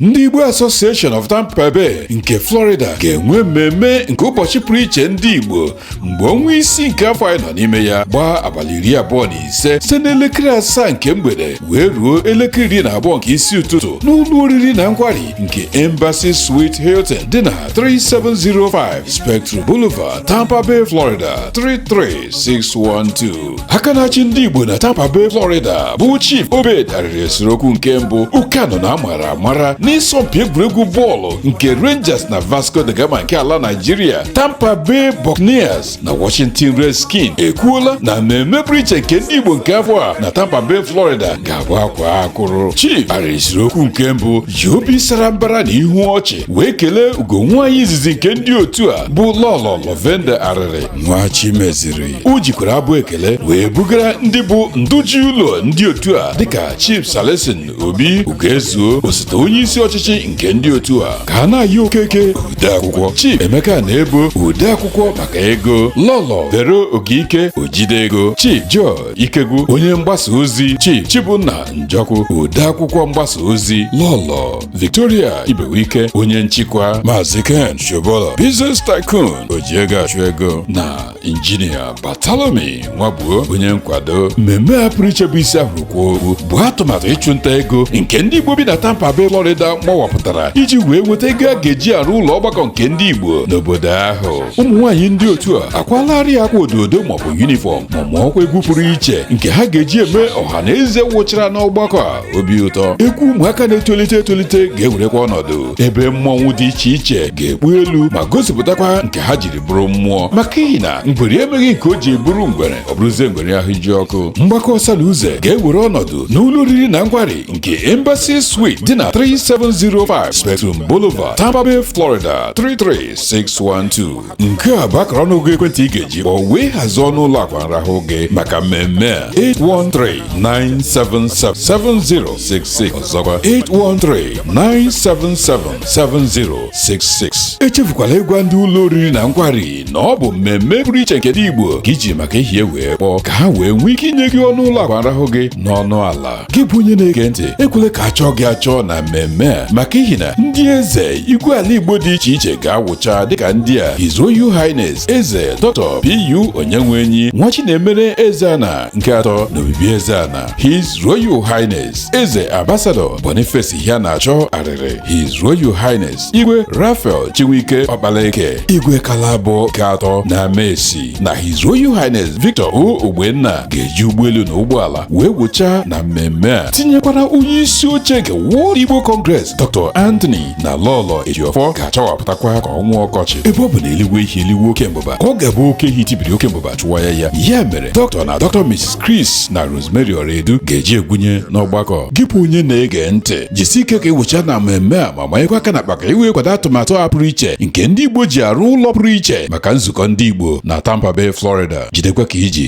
ndị Igbo Association of Tampa Bay nke Florida ga-enwe mmemme nke ụbọchị pụrụ iche ndị Igbo mgbe ọnwa isii nke afọ anyị nọ n'ime ya gbaa abalị iri abụọ na ise site n'elekere asaa nke mgbede wee ruo elekere iri na abụọ nke isi ụtụtụ n'ụlọ oriri na nkwari nke Embassy Suite Hilton dị na 3705 Spectrum Boulevard Tampa Bay Florida 33612 aka na-achị ndị Igbo na Tampa Bay Florida bụ Chief Obed Arịrị Esiriokwu nke mbụ Ukano na amara amara n'ịsọmpi egwuregwu bọọlụ nke Rangers na Vasco da Gama nke ala Nigeria Tampa Bay Buccaneers na Washington Redskins ekwuola na mmemme pụrụ iche nke ndị Igbo nke afọ a na Tampa Bay Florida ga-abụ akwaa akwụrụ Chief Arịrị Esiriokwu nke mbụ ji obi sara mbara na ihu ọchị wee kelee ugo nwaanyị izizi nke ndị otu a bụ Lọlọ Lovenda Arịrị Nwachimeziri o jikwara abụ ekele wee bugara ndị bụ ndụ ji ụlọ ndị otu a dịka chief Celestine obi ugoezuo osote onye isi ọchịchị nke ndị otu a Kanayo okeke odeakwụkwọ chief emeka Anaebo odeakwụkwọ maka ego lọlọ vero Ogike ojide ego chief joe ikegwu onye mgbasa ozi chief chibụnna njọkụ odeakwụkwọ mgbasa ozi lọlọ victoria ibewike onye nchịkwa maazị ken shobola business tycoon oji ego achụ ego na injinia Bartholomew nwagbuo onye nkwado mmemme a pụrụ iche bụ isi a hụrụ kwaa okpu bụ atụmatụ ịchụnta ego nke ndị igbo bi na tampa bay florida mawapụtara iji wee nweta ego a ga-eji arụ ụlọ ọgbakọ nke ndị igbo n'obodo ahụ ụmụ nwaanyị ndị otu a akwalarị akwa ododo maọbụ yunifọm ma mụọkwa egwu pụrụ iche nke ha ga-eji eme ọha na eze wụchara n'ọgbakọ a obi ụtọ egwu ụmụaka na-etolite etolite ga-ewerekwa ọnọdụ ebe mmọnwụ dị iche iche ga-ekpu elu ma gosipụtakwa nke ha jiri bụrụ mmụọ maka ihi na ngwere emeghị nke o ji bụrụ ngwere ọ bụrụzie ngwere ahụ ji ọkụ mgbakọ ọsa na uze ga-ewere ọnọdụ n'ụlọ oriri na nkwari nke Embassy Suite dị na 3705 Spectrum Boulevard Tampa Bay Florida 33612 nke a bụ akara ọnụọgụ ekwentị ị ga-eji kpọọ wee hazie ọnụ ụlọ akwa nrahụ gị maka mmemme a 813-977-7066 ọzọkwa 813-977 7066 echefukwala ịgwa ndị ụlọ oriri na nkwari na ọ bụ mmemme pụrụ iche nke ndị Igbo ka i ji maka ihi ya wee kpọọ ka ha wee nwee ike inye gị ọnụ ụlọ akwa nrahụ gị n'ọnụ ala gị bụ onye na-ege ntị ekwele ka a chọọ gị achọ na mmemme a maka ihi na ndị eze igwe ala Igbo dị iche iche ga-awụcha dịka ndị a His Royal Highness Eze Dr. PU Onyenwenyi Nwachinemere Ezeana nke atọ na Obibiezena His Royal Highness Eze Ambassador Boniface Iheanacho Arịrị His Royal Highness Igwe Raphael Chinwike Ọkpalaeke Igwe Kalabọ nke atọ na Amaesi na His Royal Highness Victor O Ogbenna ga-eji ụgbọelu na ụgbọala wee wụchaa na mmemme a tinyekwara onye isi oche nke World Igbo Congress Dr. Anthony na Lọlọ Ejiofor ga-achawapụtakwa ka ọnwa ọkọchị ebe ọ bụ na e luwe ihe e luwe oke mbụba ka ọ ga-abụ oke ehi tibiri oke mbụba achụwa ya ya ya mere Dr. na Dr. Mrs. Chris na Rose Rosemary Oredu ga-eji egwunye n'ọgbakọ gị bụ onye na-ege ntị jisi ike ka ị wụchaa na mmemme a ma manyekwa aka n'akpa ka i wee kwado atụmatụ a pụrụ iche nke ndị Igbo ji arụ ụlọ pụrụ iche maka nzukọ ndị Igbo na Tampa Bay Florida jidekwa ka i ji